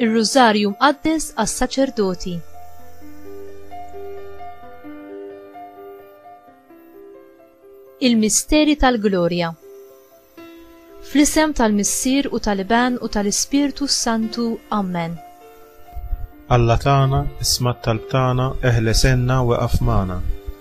Ir-Rużarju mqaddes għas-saċerdoti. Il-misteri tal-glorja. Fl-isem tal-Missier u tal-Iban u tal-Ispirtu Santu. Amen. Alla tagħna, isma' talb tagħna, eħlesenna weqaf magħna.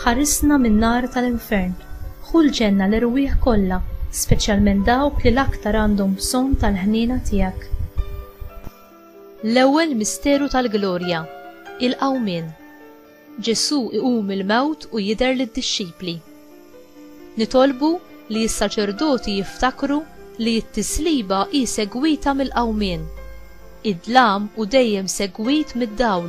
Ħarisna min-nar tal-infern. Ħu l-ġenna l-erwieħ kollha, speċjalment dawk li l-aktar għandhom bżonn tal-ħniena tiegħek. L-ewwel misteru tal-glorja, il-Qawmien. Ġesù iqum mill-mewt u jidher lid-dixxipli. Nitolbu li s-saċerdoti jiftakru li t-tisliba hi segwita mill-Qawmien. Id-dlam hu dejjem segwit mid-dawl.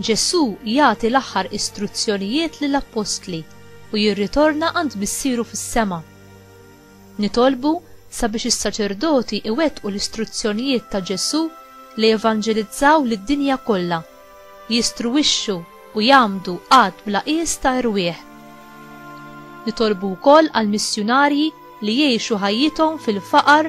Ġesù jagħti l-aħħar istruzzjonijiet lill-appostli u jirritorna għand Missieru fis-sema. Nitolbu sabiex is-saċerdoti iwettqu l-istruzzjonijiet ta' Ġesù li jevanġelizzaw lid-dinja kollha, jistruwixxu u jgħammdu għadd bla qies ta' erwieħ. Nitolbu wkoll għall-missjunarji li jgħixu ħajjithom fil-faqar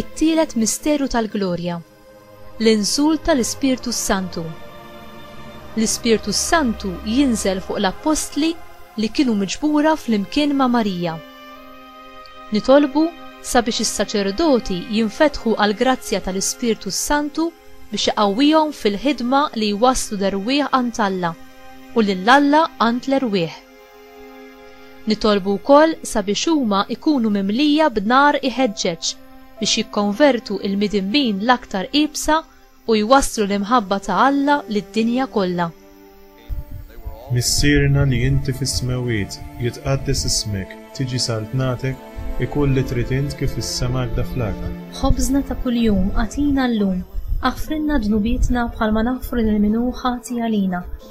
It-tielet misteru tal-glorja, l-inżul tal-Ispirtu s-Santu. L-Ispirtu s-Santu jinżel fuq l-appostli li kienu miġbura flimkien ma' Marija. Nitolbu sabiex is-saċerdoti jinfetħu għall-grazzja tal-Ispirtu s-Santu biex iqawwihom fil-ħidma li jwasslu l-erwieħ għand Alla u lil Alla għand l-erwieħ. Nitolbu wkoll sabiex huma jkunu mimlija b'nar iħeġġeġ biex jikkonvertu l-midinbin l-aktar iebsa u jwasslu l-imħabba ta' Alla lid-dinja kollha. Missierna li inti fis-smewwiet, jitqaddes ismek, tiġi saltnatek, ikun li trid int kif fis-sema hekda fl-art. Ħobżna ta' kuljum agħtina llum. Aħfrilna dnubietna bħalma naħfru lil min hu ħati għalina.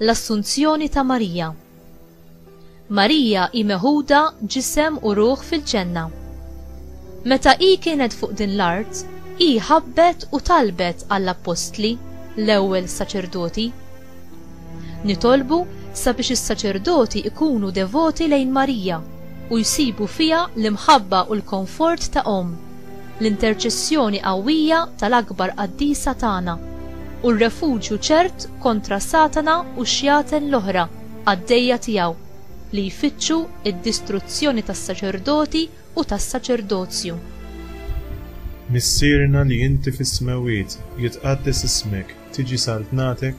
L-Assunzjoni ta' Marija Marija hi meħuda ġisem u ruħ fil-Ġenna. Meta hi kienet fuq din l-art, hi ħabbet u talbet għall-appostli, l-ewwel saċerdoti. Nitolbu sabiex is-saċerdoti jkunu devoti lejn Marija u jsibu fiha l-imħabba u l-konfort ta' omm. l-interċessjoni qawwija tal-akbar qaddisa tagħna, u r-refuġju ċert kontra Satana u x-xjaten l-oħra qaddejja tiegħu li jfittxu d-distruzzjoni tas-saċerdoti u tas-saċerdozju. Missierna li inti fis-smewwiet, jitqaddes ismek, tiġi saltnatek,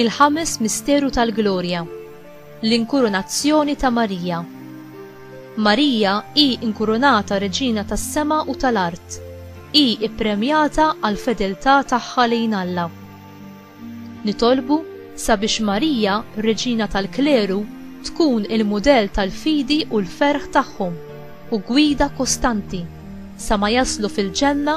Il-Ħames Misteru tal-Glorja, l-Inkurunazzjoni ta' Marija. Marija hi inkurunata Reġina tas-sema u tal-art, hi ppremjata għall-fedeltà tagħha lejn Alla. Nitolbu sabiex Marija, Reġina tal-Kleru, tkun il-mudell tal-fidi u l-ferħ tagħhom u gwida kostanti sa ma jaslu fil-ġenna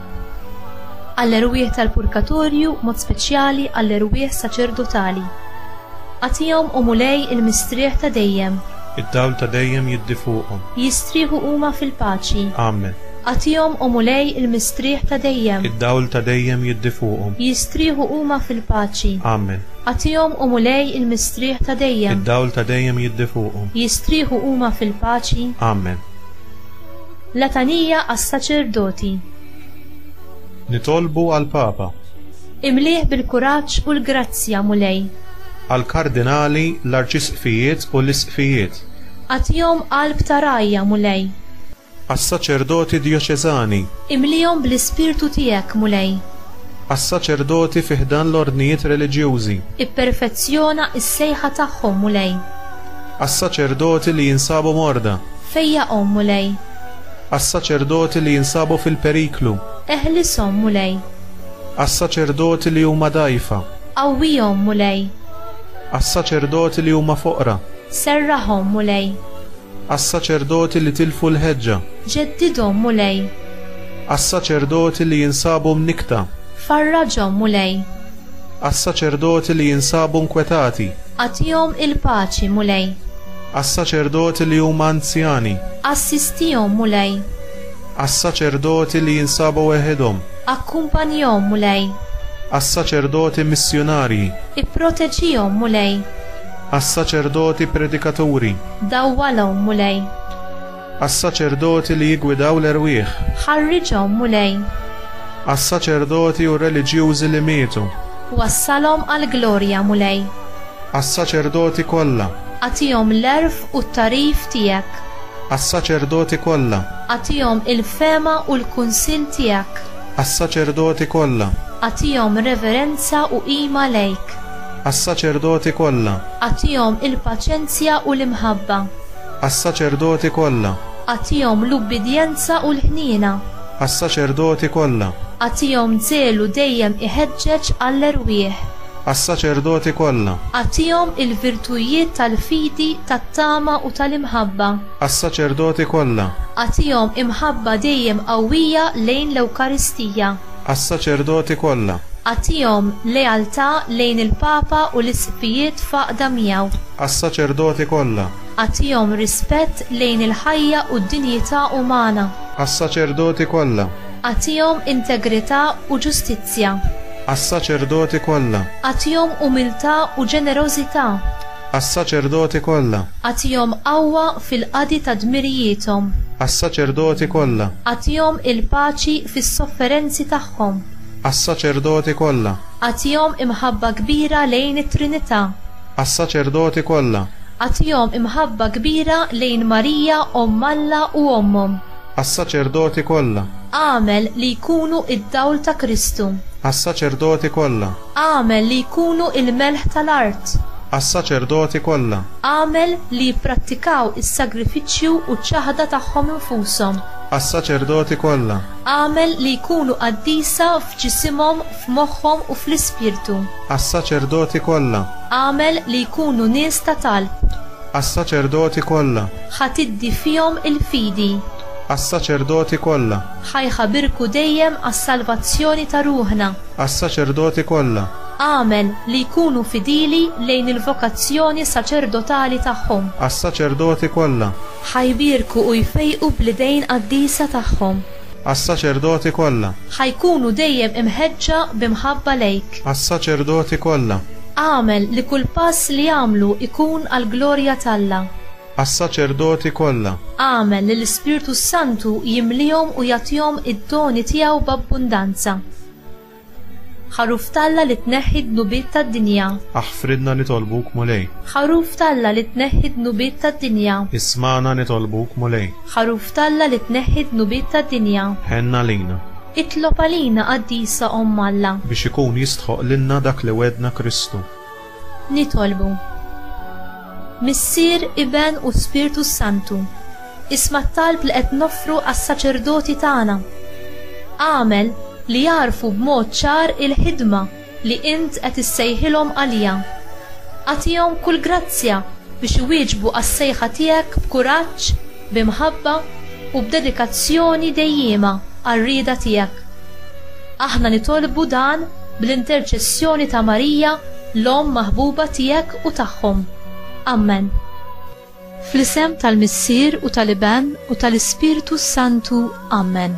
għall-erwieħ tal-purgatorju b'mod speċjali għall-erwieħ saċerdotali. Agħtihom, O Mulej, il-mistrieħ ta' dejjem. Id-dawl ta' dejjem jiddi fuqhom. Jistrieħu huma fil-paċi. Amen. Agħtihom, O Mulej, il-mistrieħ ta' dejjem. Id-dawl ta' dejjem jiddi fuqhom. Jistrieħu huma fil-paċi. Amen. Agħtihom, O Mulej, il-mistrieħ ta' dejjem. Id-dawl ta' dejjem jiddi fuqhom. Jistrieħu huma fil-paċi. Amen. Letanija għas-saċerdoti. Nitolbu għall-Papa. Imlieh bil-kuraġġ u l-grazzja, Mulej. Għall-kardinali, l-arċisqfijiet u l-isqfijiet. Agħtihom qalb ta' rgħajja, Mulej. Għas-saċerdoti djoċeżani. Imlihom bl-ispirtu tiegħek, Mulej. Għas-saċerdoti fi ħdan l-ordnijiet reliġjużi. Ipperfezzjona s-sejħa tagħhom, Mulej. Għas-saċerdoti li jinsabu morda. Fejjaqhom, Mulej. Għas-saċerdoti li jinsabu fil-periklu. Eħlishom, Mulej. Għas-saċerdoti li huma dgħajfa. Qawwihom, Mulej. Għas-saċerdoti li huma foqra. Serrahom, Mulej. Għas-saċerdoti li tilfu l-ħeġġa. Ġeddidhom, Mulej. Għas-saċerdoti li jinsabu mnikkta. Farraġhom, Mulej. Għas-saċerdoti li jinsabu nkwetati. Agħtihom il-paċi, Mulej. Għas-saċerdoti li huma anzjani. Assistihom, Mulej. Għas-saċerdoti li jinsabu weħidhom. Akkumpanjahom, Mulej. Għas-saċerdoti missjunarji. Ipproteġihom, Mulej. Għas-saċerdoti predikaturi. Dawwalhom, Mulej. Għas-saċerdoti li jiggwidaw l-erwieħ. Ħarriġhom, Mulej. Għas-saċerdoti u r-reliġjużi li mietu. Wassalhom għall-glorja, Mulej. Għas-saċerdoti kollha. Agħtihom l-għerf u t-tagħrif tiegħek. Għas-saċerdoti kollha. Agħtihom il-fehma u l-kunsill tiegħek. Għas-saċerdoti kollha. Agħtihom reverenza u qima lejk. Għas-saċerdoti kollha. Agħtihom il-paċenzja u l-imħabba. Għas-saċerdoti kollha. Agħtihom l-ubbidjenza u l-ħniena. Għas-saċerdoti kollha. Agħtihom żelu dejjem iħeġġeġ għall-erwieħ. Għas-saċerdoti kollha. Agħtihom il-virtujiet tal-fidi, tat-tama u tal-imħabba. Għas-saċerdoti kollha. Agħtihom imħabba dejjem qawwija lejn l-Ewkaristija. Għas-saċerdoti kollha. Agħtihom lealtà lejn il-Papa u l-Isqfijiet f'għaqda miegħu. Għas-saċerdoti kollha. Agħtihom rispett lejn il-ħajja u d-dinjità umana. Għas-saċerdoti kollha. Agħtihom integrità u ġustizzja. Għas-saċerdoti kollha. Agħtihom umiltà u ġenerożità. Għas-saċerdoti kollha. Agħtihom qawwa fil-qadi ta' dmirijiethom. Għas-saċerdoti kollha. Agħtihom il-paċi fis-sofferenzi tagħhom. Għas-saċerdoti kollha. Agħtihom imħabba kbira lejn it-Trinità. Għas-saċerdoti kollha. Agħtihom imħabba kbira lejn Marija Omm Alla u Ommhom. Għas-saċerdoti kollha. Agħmel li jkunu d-dawl ta' Kristu. Għas-saċerdoti kollha. Agħmel li jkunu l-melħ tal-art. Għas-saċerdoti kollha. Agħmel li jipprattikaw is-sagrifiċċju u ċ-ċaħda tagħhom infushom. Għas-saċerdoti kollha. Agħmel li jkunu qaddisa f'ġisimhom, f'moħħhom u fl-ispirtu. Għas-saċerdoti kollha. Agħmel li jkunu nies ta' talb. Għas-saċerdoti kollha. Ħa tiddi fihom il-fidi. Għas-saċerdoti kollha. Ħa jħabirku dejjem għas-salvazzjoni ta' ruħna. Għas-saċerdoti kollha. Agħmel li jkunu fidili lejn il-vokazzjoni saċerdotali tagħhom. Għas-saċerdoti kollha. Ħa jbierku u jfejqu bl-idejn qaddisa tagħhom. Għas-saċerdoti kollha. Ħa jkunu dejjem imħeġġa bi mħabba lejk. Għas-saċerdoti kollha. Agħmel li kull pass li jagħmlu jkun għall-glorja t'Alla. Għas-saċerdoti kollha. Agħmel li l-Ispirtu s-Santu jimliehom u jagħtihom id-doni tiegħu b'abbundanza. Ħaruf t'Alla li tneħħi d-dnubiet tad-dinja. Aħfrilna nitolbuk, Mulej. Ħaruf t'Alla li tneħħi d-dnubiet tad-dinja. Ismagħna nitolbuk, Mulej. Ħaruf t'Alla li tneħħi d-dnubiet tad-dinja. Ħenn għalina. Itlob għalina Qaddisa Omm Alla. Biex ikun jistħoqqlilna dak li wegħdna Kristu. Nitolbu. Missier, Iben u Spirtu s-Santu, isma' t-talb li qed noffru għas-saċerdoti tagħna. Agħmel li jagħrfu b'mod ċar il-ħidma li Int qed issejħilhom għaliha. Agħtihom kull grazzja biex iwieġbu għas-sejħa Tiegħek b'kuraġġ, bi mħabba u b'dedikazzjoni dejjiema għar-rieda tiegħek. Aħna nitolbu dan bl-interċessjoni ta' Marija, l-Omm maħbuba tiegħek u tagħhom. Ammen. Fl-isem tal-Missier u tal-Iben u tal-Ispirtu s-Santu. Ammen.